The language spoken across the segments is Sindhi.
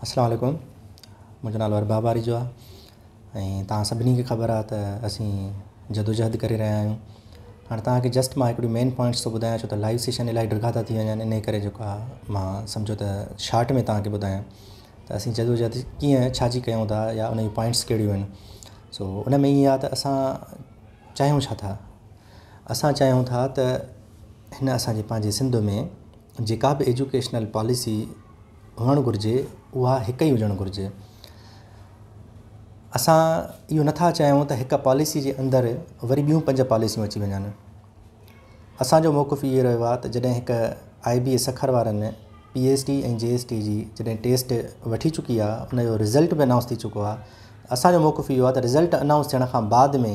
السلام عليڪم منهنجو نالو ارباب آريجو آهي ۽ توهان سڀني کي خبر آهي ته اسين جدوجهد ڪري رهيا آهيون هاڻي توهان کي جسٽ مان هڪڙي مين پوائنٽس ٿو ٻڌايان ڇو ته لائيو سيشن الائي ڊگها ٿا ٿي وڃن ان جي ڪري جيڪو آهي مان سمجهيو ته شارٽ ۾ توهان کي ٻڌايان ته اسين جدوجهد ڪيئن ڇا جي ڪيون ٿا يا ان جون پوائنٽس ڪهڙيون آهن سو ان ۾ ائين آهي ته اسان چاهيون ڇا ٿا اسان چاهيون ٿا ته هن اسان جي پنهنجي سنڌ ۾ جيڪا به ايجوڪيشنل پاليسي هئڻ گهرجي اها هڪ ئي هجڻ گهرجي. اسان اهو نه ٿا چاهيون ته هڪ پاليسي جي اندر وري ٻيون پنج پاليسيون اچي وڃن. اسان جو موقف اهو رهيو آهي ته جڏهن هڪ آء بي اي سکر وارن P S T ۽ G S T جي جڏهن ٽيسٽ وٺي چڪي آهي ان جو رزلٽ به انائونس ٿي چڪو آهي اسان جو موقف اهو آهي ته رزلٽ انائونس ٿيڻ کان بعد ۾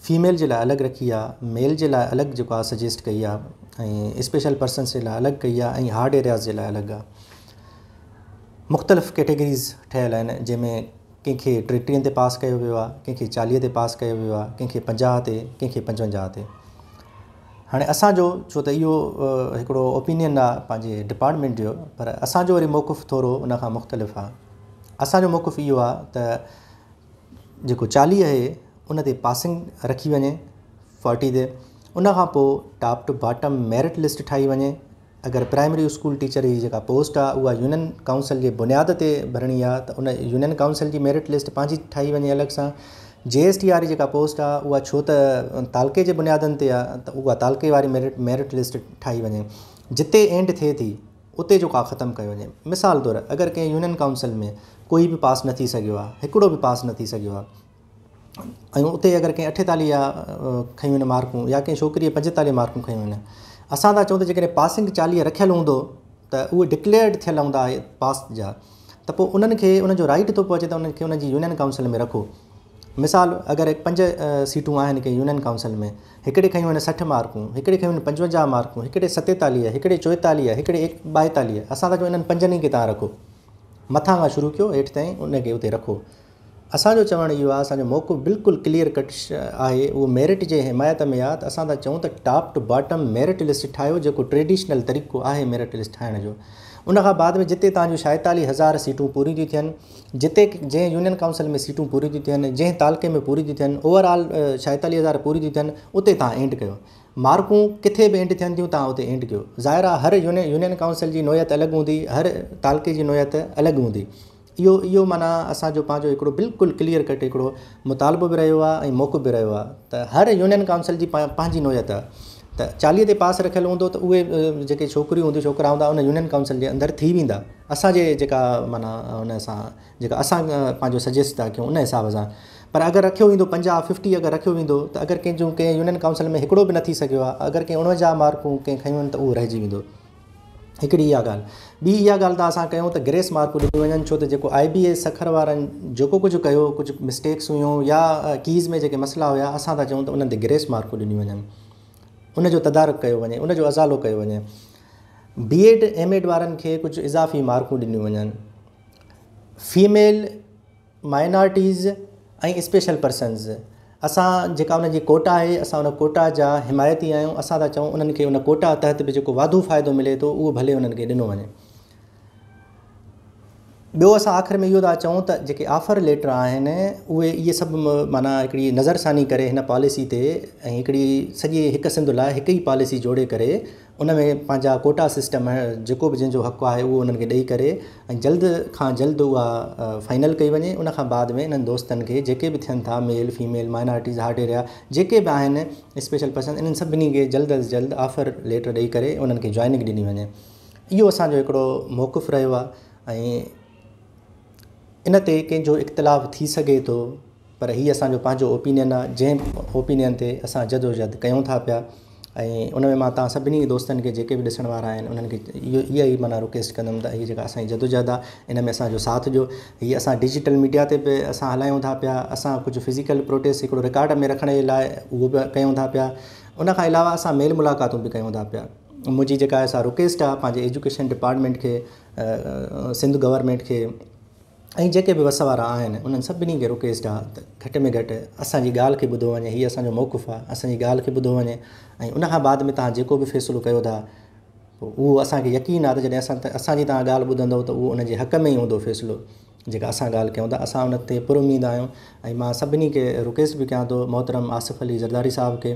فيميل جي لاء الڳ رکي آ ميل جي لاء الڳ جيڪو آ سجيسٽ ڪئي آ ۽ اسپيشل پرسنس جي لاء الڳ ڪئي آ ۽ هارڊ ايرياز جي لاء الڳ آ مختلف ڪيٽيگريز ٺهيل آهن جنهن ۾ ڪنهن کي ٽي ٽيهن تي پاس ڪيو ويو آ ڪنهن کي چاليهه تي پاس ڪيو ويو آ ڪنهن کي پنجاهه تي ڪنهن کي پنجونجاهه تي هاڻي اسانجو ڇو ته اهو هڪڙو اوپينين آ پنهنجي ڊپارٽمينٽ جو پر اسانجو وري موقف ٿورو ان کان مختلف آ اسانجو موقف اهو آ ته جيڪو چالي اهي ان تي پاسنگ رکي وڃي فارٽي تي ان کان پوء top to bottom merit list ٺاهي وڃي اگر پرائمري اسڪول ٽيچر جي جيڪا پوسٽ آهي اها يونين ڪائونسل جي بنياد تي ڀرڻي آهي ته ان يونين ڪائونسل جي ميرٽ لسٽ پنهنجي ٺاهي وڃي الڳ سان جي ايس ٽي واري جيڪا پوسٽ آهي اها ڇو ته تعلقي جي بنيادن تي آهي ته اها تعلقي واري ميرٽ ميرٽ لسٽ ٺاهي وڃي جتي اينڊ ٿئي ٿي اتي جو ڪا ختم ڪيو وڃي مثال طور اگر ڪنهن يونين ڪائونسل ۾ ڪوئي به پاس نه ٿي سگهيو آهي هڪڙو به پاس نه ٿي سگهيو آهي ۽ اتي اگر ڪنهن اٺيتالي يا کنيون آهن مارڪون يا ڪنهن ڇوڪري پنجيتالي مارڪون کنيون آهن اسان ٿا چئون ته جيڪڏهن پاسنگ چاليهه رکيل هوندو ته اهو ڊڪليئرڊ ٿيل هوندا پاس جا ته پوء انهن کي ان جو رائيٽ ٿو پهچي ته انهن کي انهن جي يونين ڪائونسل ۾ رکو. مثال اگر پنج سيٽون آهن ڪنهن يونين ڪائونسل ۾ هڪڙي کنيون آهن سٺ مارڪون، هڪڙي کنيون آهن پنجونجاهه مارڪون، هڪڙي ستيتاليهه، هڪڙي چوئيتاليهه، هڪڙي ٻائيتاليهه، اسان ٿا چئون انهن پنجن ئي کي تان رکو. مٿان کان شروع ڪيو هيٺ تائين ان کي اتي رکو. اسان جو چوڻ اهو آهي اسان جو موقف بلڪل ڪليئر ڪٽ آهي اهو ميرٽ جي حمايت ۾ آهي ته اسان ٿا چئون ته top to bottom merit list ٺاهيو جيڪو ٽريڊيشنل طريقو آهي ميرٽ لسٽ ٺاهڻ جو ان کان بعد ۾ جتي تهان جون شائتالي هزار سيٽون پوريون ٿيون ٿين جتي جنهن يونين ڪائونسل ۾ سيٽون پوريون ٿيون ٿين جنهن تعلقي ۾ پوريون ٿيون ٿين اوور آل شائتالي هزار پوريون ٿيون ٿين اتي تهان اينڊ ڪيو مارڪون ڪٿي به اينڊ ٿين ٿيون تهان اتي اينڊ ڪيو ظاهر آهي هر يونين يونين ڪائونسل جي نوعيت الڳ هوندي هر تعلقي جي نوعيت الڳ هوندي اهو اهو معنيٰ اسان جو پنهنجو هڪڙو بلڪل ڪليئر ڪٽ هڪڙو مطالبو به رهيو آهي ۽ موقف به رهيو آهي ته هر يونين ڪائونسل جي پنهنجي نوعيت آهي ته چاليهه تي پاس رکيل هوندو ته اهي جيڪي ڇوڪريون هونديون ڇوڪرا هوندا ان يونين ڪائونسل جي اندر ٿي ويندا اسان جي جيڪا معنيٰ ان سان جيڪا اسان پنهنجو سجيسٽ ٿا ڪيون ان حساب سان پر اگر رکيو ويندو پنجاهه ففٽي اگر رکيو ويندو ته اگر ڪنهن جون ڪنهن يونين ڪائونسل ۾ هڪڙو به نه ٿي سگهيو آهي اگر ڪنهن اڻوجهه مارڪون ڪنهن کنيون آهن ته اهو رهجي ويندو هڪڙي اها ڳالهه. ٻي اها ڳالهه ته اسان ڪيون ته گريس مارڪون ڏنيون وڃن ڇو ته جيڪو آئي بي اي سکر وارن جيڪو ڪجهه ڪيو ڪجهه مسٽيڪس هيون يا ڪيز ۾ جيڪي مسئلا هيا اسان ٿا چئون ته انهن تي گريس مارڪون ڏنيون وڃن ان جو تدارڪ ڪيو وڃي ان جو ازالو ڪيو وڃي بي ايڊ ايم ايڊ وارن کي ڪجهه اضافي مارڪون ڏنيون وڃن فيميل مائنارٽيز ۽ اسپيشل پرسنز اسان جيڪا انهن جي ڪوٽا آهي اسان ان ڪوٽا جا حمايتي آهيون اسان ٿا چئون انهن کي ان ڪوٽا تحت به جيڪو واڌو فائدو ملي ٿو اهو ڀلي انهن کي ڏنو وڃي ٻيو اسان آخر ۾ اهو ٿا چئون ته جيڪي آفر ليٽر آهن اهي اهي سڀ معنيٰ هڪڙي نظر ثاني ڪري هن پاليسي تي ۽ هڪڙي سڄي هڪ سنڌ لاء هڪ ئي پاليسي جوڙي ڪري ان ۾ پنهنجا ڪوٽا سسٽم جيڪو به جنهن جو حق آهي اهو انهن کي ڏئي ڪري ۽ جلد کان جلد اها فائنل ڪئي وڃي ان کان بعد ۾ انهن دوستن کي جيڪي به ٿين ٿا male female minorities hard area جيڪي به آهن اسپيشل پرسن انهن سڀني کي جلد از جلد آفر ليٽر ڏئي ڪري انهن کي جوائننگ ڏني وڃي اهو اسان جو هڪڙو موقف رهيو آهي ۽ ان تي ڪنهن جو اختلاف ٿي سگهي ٿو پر هي اسان جو پنهنجو اوپينين آ جنهن اوپينين تي اسان جدوجهد ڪيون ٿا پيا ۽ ان ۾ مان توهان سڀني دوستن کي جيڪي به ڏسڻ وارا آهن انهن کي اها ئي معنيٰ رڪويسٽ ڪندم ته هي جيڪا اسان جي جدوجهد آ ان ۾ اسان جو ساٿ ڏيو هي اسان ڊجيٽل ميڊيا تي به اسان هلايون ٿا پيا اسان ڪجهه فزيڪل پروٽيسٽ هڪڙو رڪارڊ ۾ رکڻ جي لاء اهو به ڪيون ٿا پيا ان کان علاوه اسان ميل ملاقاتون به ڪيون ٿا پيا منهنجي جيڪا سا رڪويسٽ آ پنهنجي ايجوڪيشن ڊپارٽمينٽ کي سنڌ گورنمينٽ کي ۽ جيڪي به وس وارا آهن انهن سڀني کي رڪيس ڊاء ته گهٽ ۾ گهٽ اسان جي ڳالهه کي ٻڌو وڃي هي اسان جو موقف آهي اسان جي ڳالهه کي ٻڌو وڃي ۽ ان کان بعد ۾ توهان جيڪو به فيصلو ڪيو ٿا اهو اسان کي يقين آهي ته جڏهن اسان اسان جي توهان ڳالهه ٻڌندو ته اهو ان جي حق ۾ ئي هوندو فيصلو جيڪا اسان ڳالهه ڪيون ٿا اسان ان تي پر اميد آهيون ۽ مان سڀني کي رڪيس به ڪيان ٿو محترم آصف علي زرداري صاحب کي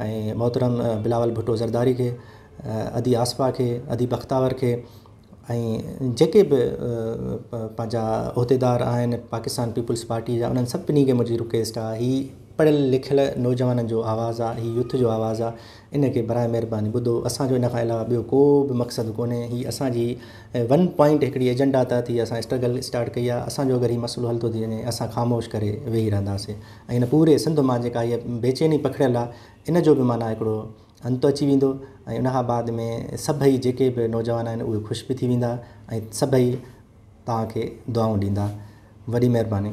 ۽ محترم بلاول ڀٽو زرداري کي ادي آصفا کي ادي بختاور کي ۽ جيڪي به پنهنجا عهديدار آهن پاڪستان پيپلز پارٽي جا انهن سڀني کي منهنجي رڪويسٽ آهي هي پڙهيل لکيل نوجوانن جو آواز آهي هي يوٿ جو آواز آهي ان کي براء مهرباني ٻڌو اسان جو ان کان علاوه ٻيو ڪو به مقصد ڪونهي هي اسان جي ون پوائنٽ هڪڙي ايجنڊا تحت هي اسان اسٽرگل اسٽارٽ ڪئي آهي اسان جو اگر هي مسئلو حل ٿو ٿي وڃي اسان خاموش ڪري ويهي رهنداسين ۽ ان پوري سنڌ مان جيڪا هي بيچيني پکڙيل آهي ان جو به معنيٰ هڪڙو انت اچي ويندو ۽ ان کان بعد ۾ سڀئي جيڪي به نوجوان آهن اهي خوش به ٿي ويندا ۽ سڀئي توهان کي دعائون ڏيندا. وڏي مهرباني.